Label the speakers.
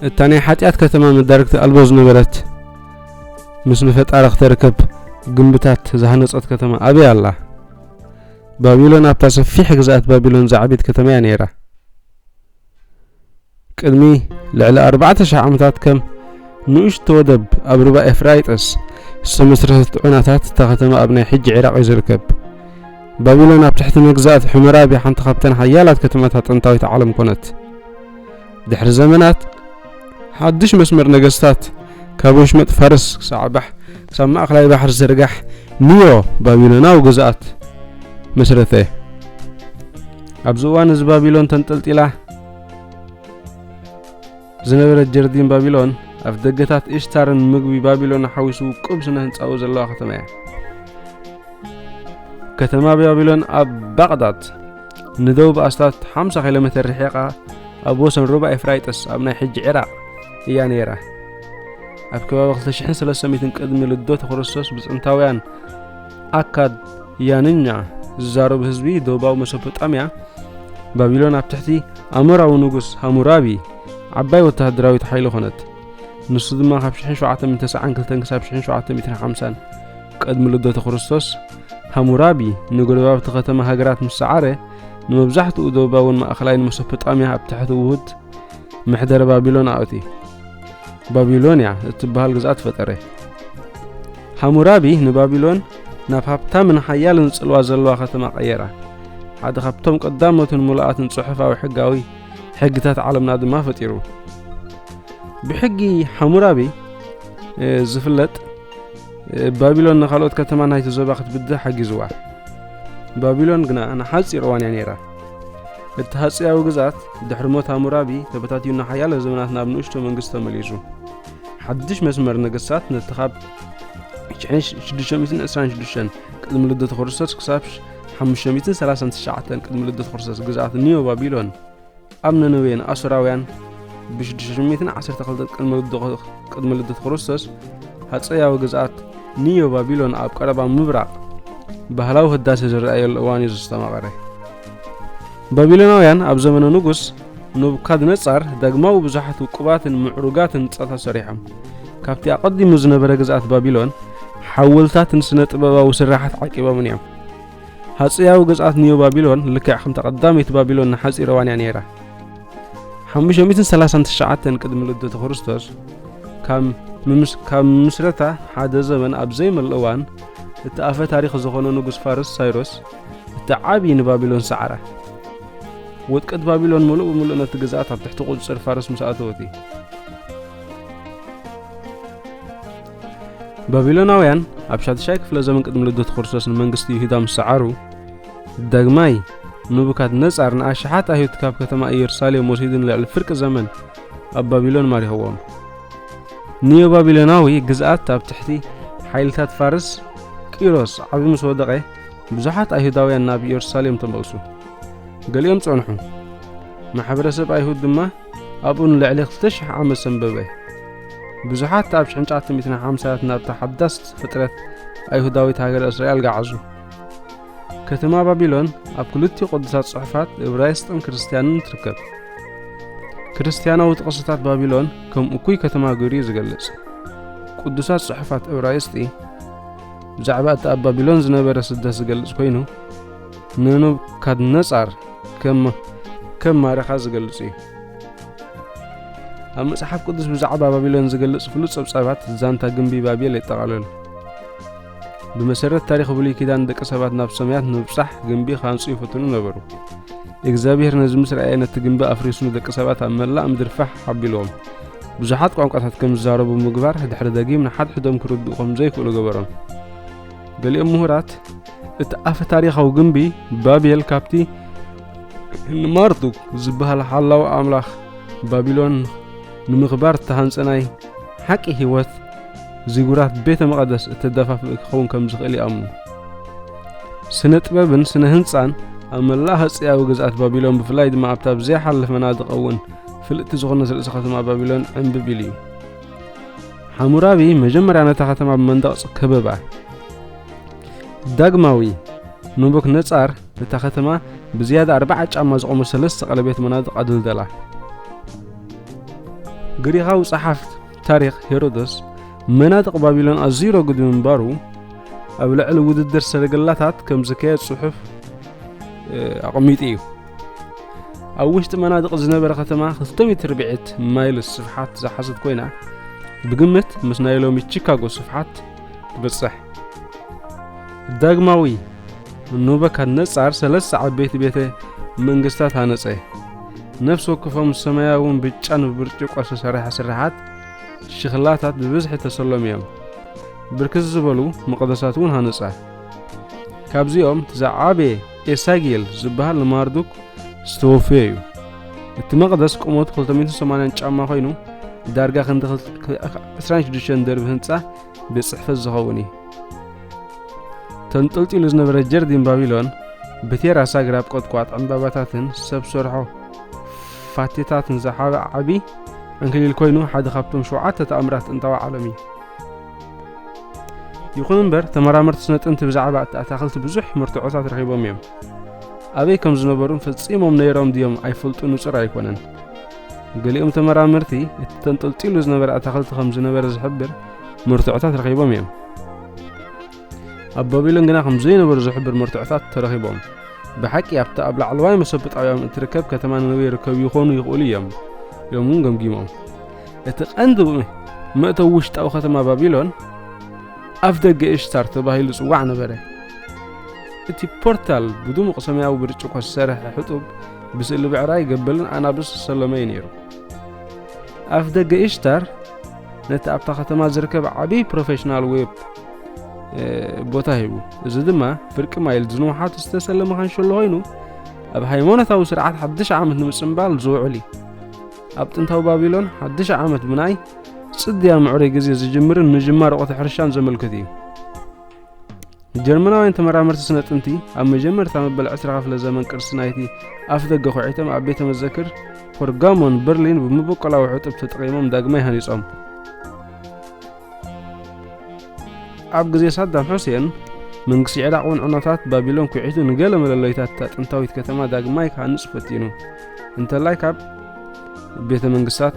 Speaker 1: እታ ናይ ሓጢኣት ከተማ መዳርግቲ ኣልቦ ዝነበረት ምስ ንፈጣሪ ክተርከብ ግንብታት ዝሃነጸት ከተማ ኣበይ ኣላ ባቢሎን ኣብታ ሰፊሕ ግዝኣት ባቢሎን ዝዓብት ከተማ እያ ነይራ ቅድሚ ልዕሊ ኣርባዕተ ሽሕ ዓመታት ከም ንእሽቶ ወደብ ኣብ ሩባ ኤፍራይጠስ ዝተመስረተት ዑናታት እታ ከተማ ኣብ ናይ ሕጂ ዒራቕ እዩ ዝርከብ ባቢሎን ኣብ ትሕቲ መግዛእቲ ሕሙራቢ ሓንቲ ካብተን ሓያላት ከተማታት ጥንታዊት ዓለም ኮነት። ድሕሪ ዘመናት ሓድሽ መስመር ነገስታት ካብ ወሽመጥ ፋርስ ክሳዕ ባሕ ክሳብ ማእከላይ ባሕሪ ዝርጋሕ ኒዮ ባቢሎናዊ ግዝኣት መስረተ። ኣብዚ እዋን እዚ ባቢሎን ተንጠልጢላ ዝነበረት ጀርዲን ባቢሎን ኣፍ ደገታት ኢሽታርን ምግቢ ባቢሎን ሓዊሱ ውቁብ ስነ ህንፃኡ ዘለዋ ከተማ እያ ከተማ ባቢሎን ኣብ ባቕዳድ ንደቡብ ኣስታት 50 ኪሎ ሜትር ርሒቓ ኣብ ወሰን ሩባ ኤፍራይጥስ ኣብ ናይ ሕጂ ዒራቕ እያ ነይራ ኣብ ከባቢ 2300 ቅድሚ ልደት ክርስቶስ ብፅንታውያን ኣካድ ያንኛ ዝዛረብ ህዝቢ ዶባዊ መሶፖጣምያ ባቢሎን ኣብ ትሕቲ ኣሞራዊ ንጉስ ሃሙራቢ ዓባይ ወተሃደራዊት ሓይሊ ኾነት ንሱ ድማ ካብ 1792 ክሳብ 1750 ቅድሚ ልደተ ክርስቶስ ሃሙራቢ ንጎረባብቲ ከተማ ሃገራት ምስ ሰዓረ ንመብዛሕትኡ ዶባውን ማእኸላይን መሶፖጣምያ ኣብ ትሕቲ ውሁድ ምሕደረ ባቢሎን ኣእቲ ባቢሎንያ እትበሃል ግዝኣት ፈጠረ ሃሙራቢ ንባቢሎን ናብ ሃብታምን ሓያልን ጽልዋ ዘለዋ ከተማ ቀየራ። ሓደ ካብቶም ቀዳሞትን ምሉኣትን ጽሑፋዊ ሕጋዊ ሕግታት ዓለምና ድማ ፈጢሩ። ብሕጊ ሓሙራቢ ዝፍለጥ ባቢሎን ንካልኦት ከተማ ናይቲ ዞባ ክትብድህ ሓጊዝዋ ባቢሎን ግና ንሓፂር እዋን እያ ነይራ እቲ ሃፅያዊ ግዛት ድሕሪ ሞት ሃሙራቢ ተበታትዩና ሓያለ ዘመናት ናብ ንእሽቶ መንግስቲ ተመሊሱ ሓድሽ መስመር ነገስታት ነቲ ኻብ 626 ቅድሚ ልደት ክርስቶስ ክሳብ 539 ቅድሚ ልደት ክርስቶስ ግዝኣት ኒዮ ባቢሎን ኣብ ነነዌን ኣሱራውያን ብ612 ቅድሚ ልደት ክርስቶስ ሃፀያዊ ግዝኣት ኒዮ ባቢሎን ኣብ ቀረባ ምብራቕ ባህላዊ ህዳሴ ዝረኣየሉ እዋን እዩ ዝተማቐረ ባቢሎናውያን ኣብ ዘመነ ንጉስ ኑብካድነጻር ዳግማዊ ብዙሓት ውቁባትን ምዕሩጋት ህንጻታት ሰሪሖም። ካብቲ ኣቐዲሙ ዝነበረ ግዝኣት ባቢሎን ሓወልታትን ስነ ጥበባዊ ስርሓት ዓቂቦምን እዮም። ሃጸያዊ ግዝኣት ኒዮ ባቢሎን ልክዕ ከምታ ቀዳመይቲ ባቢሎን ንሓጺር እዋን እያ ነይራ። 539 ቅድሚ ልደተ ክርስቶስ ካብ ምስረታ ሓደ ዘመን ኣብ ዘይመልእ እዋን እቲ ኣፈ ታሪኽ ዝኾነ ንጉስ ፋርስ ሳይሮስ እቲ ዓብዪ ንባቢሎን ሰዓራ። ውድቀት ባቢሎን ምሉእ ብምሉእ ነቲ ግዝኣት ኣብ ትሕቲ ቁፅፅር ፋርስ ምስ ኣተወት እዩ ባቢሎናውያን ኣብ ሻድሻይ ክፍለ ዘመን ቅድሚ ልደት ክርስቶስ ንመንግስቲ ይሁዳ ምስ ሰዓሩ ዳግማይ ንቡካት ነጻር ንኣሽሓት ኣይሁድ ካብ ከተማ ኢየሩሳሌም ወሲዱ ንልዕሊ ፍርቂ ዘመን ኣብ ባቢሎን ማሪኸዎም ኒዮ ባቢሎናዊ ግዝኣት ኣብ ትሕቲ ሓይልታት ፋርስ ቂሮስ ዓቢ ምስ ወደቐ ብዙሓት ኣይሁዳውያን ናብ ኢየሩሳሌም ተመልሱ፣ ገሊኦም ጸንሑ። ማሕበረሰብ ኣይሁድ ድማ ኣብኡ ንልዕሊ ክልተ ሽሕ ዓመት ሰንበበ። ብዙሓት ኣብ ሽሕንጫ ትንቢት ሓምሳያት ናብታ ሓዳስ ፍጥረት ኣይሁዳዊት ሃገረ እስራኤል ገዓዙ። ከተማ ባቢሎን ኣብ ክልቲኡ ቅዱሳት ጽሑፋት እብራይስጥን ክርስትያንን ትርከብ። ክርስትያናዊ ጥቕስታት ባቢሎን ከም እኩይ ከተማ ገይሩ እዩ ዝገልጽ። ቅዱሳት ጽሑፋት እብራይስጢ ብዛዕባ እቲ ኣብ ባቢሎን ዝነበረ ስደት ዝገልጽ ኮይኑ ንኑብካድነጻር ከም ከም ማረኻ ዝገልጽ እዩ ኣብ መጽሓፍ ቅዱስ ብዛዕባ ባቢሎን ዝገልጽ ፍሉጥ ጸብጻባት ዛንታ ግንቢ ባቤል የጠቓልል ብመሰረት ታሪክ ብሉይ ኪዳን ደቂ ሰባት ናብ ሰማያት ንምብጻሕ ግንቢ ካንጹ ይፍትኑ ነበሩ እግዚኣብሔር ነዚ ምስ ረኣየ ነቲ ግንቢ ኣፍሪሱ ንደቂ ሰባት ኣብ መላእ ምድሪ ፋሕ ሓቢልዎም ብዙሓት ቋንቋታት ከም ዝዛረቡ ምግባር ድሕሪ ደጊም ንሓድሕዶም ክርድኡ ከም ዘይክእሉ ገበሮም። ገሊኦም ምሁራት እቲ ኣፈ ታሪኻዊ ግንቢ ባቤል ካብቲ ንማርዱክ ዝበሃል ሓላዊ ኣምላኽ ባቢሎን ንምኽባር እተሃንጸ ናይ ሓቂ ህይወት ዚጉራት ቤተ መቐደስ እተደፋፍእ ክኸውን ከም ዝኽእል ይኣምኑ ስነ ጥበብን ስነ ህንጻን ኣብ መላእ ሃጸያዊ ግዝኣት ባቢሎን ብፍላይ ድማ ኣብታ ብዘይሓለፈ መናድቕ እውን ፍልጥቲ ዝኾነት ርእሲ ከተማ ባቢሎን ዕንብብ ኢሉ እዩ። ሓሙራቢ መጀመርያ ነታ ከተማ ብመንደቕ ከበባ። ዳግማዊ ንቡክ ነጻር ነታ ከተማ ብዝያዳ ኣርባዓ ጫማ ዝቖመ ሰለስተ ቀለቤት መናድቕ ኣደልደላ። ግሪኻዊ ጸሓፍ ታሪኽ ሄሮዶስ መናድቕ ባቢሎን ኣዝዩ ረጒድ ምንባሩ ኣብ ልዕሊ ውድድር ሰረገላታት ከም ዝካየድ ጽሑፍ ኣቐሚጡ እዩ። ኣብ ውሽጢ መናድቕ ዝነበረ ከተማ ክልተ ሜትር ብዕት ማይልስ ስፍሓት ዝሓዘት ኮይና ብግምት ምስ ናይ ሎሚ ቺካጎ ስፍሓት ትበጽሕ ዳግማዊ ኑበካድነጻር ሰለስተ ዓበይቲ ቤተ መንግስታት ሃነጸ ነፍሲ ወክፎም ሰማያውን ብጫን ብብርጭቆ ዝተሰርሐ ስርሓት ሽኽላታት ብብዝሒ ተሰሎም እዮም ብርክት ዝበሉ መቕደሳት እውን ሃነጸ ካብዚኦም ዝዓበየ ኤሳጌል ዝበሃል ንማርዱክ ዝተወፈየ እዩ። እቲ መቕደስ ቁመቱ 280 ጫማ ኮይኑ ዳርጋ ክንዲ 26 ደርቢ ህንፃ ቤት ጽሕፈት ዝኸውን እዩ። ተንጠልጢሉ ዝነበረ ጀርዲን ባቢሎን ብቴራስ ኣግራብ ቆጥቋጥ ዕምባባታትን ሰብ ሰርሖ ፋቴታትን ዝሓበ ዓቢ ዕንክሊል ኮይኑ ሓደ ካብቶም ሸውዓተ ተኣምራት ጥንታዊ ዓለም እዩ። ይኹን እምበር ተመራመርቲ ስነ ጥንቲ ብዛዕባ እቲ ኣታኽልቲ ብዙሕ መርትዖታት ረኺቦም እዮም። ኣበይ ከም ዝነበሩን ፈጺሞም ነይሮም ድዮም ኣይፈልጡ ንጹር ኣይኮነን። ገሊኦም ተመራመርቲ እቲ ተንጠልጢሉ ዝነበረ ኣታኽልቲ ከም ዝነበረ ዝሕብር መርትዖታት ረኺቦም እዮም። ኣብ ባቢሎን ግና ከም ዘይነበሩ ዝሕብር መርትዖታት ተረኺቦም ብሓቂ ኣብቲ ኣብ ላዕለዋይ መሰብጣውያም እትርከብ ከተማ ነነዌ ይርከቡ ይኾኑ ይኽእሉ እዮም ኢሎም እውን ገምጊሞም እቲ ቀንዲ መእተዊ ውሽጣዊ ከተማ ባቢሎን ኣፍ ደገ እሽታር ተባሂሉ ጽዋዕ ነበረ እቲ ፖርታል ብድሙቕ ሰማያዊ ብርጭቆ ዝሰርሐ ሕጡብ ብስእሊ ብዕራይ ገበልን ኣናብስ ዝሰለመ እዩ ነይሩ ኣፍ ደገ እሽታር ነቲ ኣብታ ከተማ ዝርከብ ዓብዪ ፕሮፌሽናል ዌብ ቦታ ሂቡ እዚ ድማ ፍርቂ ማይል ዝንውሓቱ ዝተሰለመ ካንሸሎ ኮይኑ ኣብ ሃይማኖታዊ ስርዓት ሓድሽ ዓመት ንምፅምባል ዝውዕል እዩ ኣብ ጥንታዊ ባቢሎን ሓድሽ ዓመት ብናይ ፅድያ ምዕሩይ ግዜ ዝጅምርን ምጅማር ወቕቲ ሕርሻን ዘመልክት እዩ ጀርመናውያን ተመራመርቲ ስነ ጥንቲ ኣብ መጀመርታ መበል 20 ክፍለ ዘመን ቅርሲ ናይቲ ኣፍ ደገ ኩዒቶም ኣብ ቤተ መዘክር ፖርጋሞን በርሊን ብምበቆላዊ ሕጡብ ተጠቒሞም ዳግማይ ሃኒጾም ኣብ ግዜ ሳዳም ሑሴን መንግስቲ ዒራቕ እውን ዕኖታት ባቢሎን ኩዒቱ ንገለ መለለይታት እታ ጥንታዊት ከተማ ዳግማይ ክሃንጽ ፈቲኑ እንተላይ ካብ ቤተ መንግስታት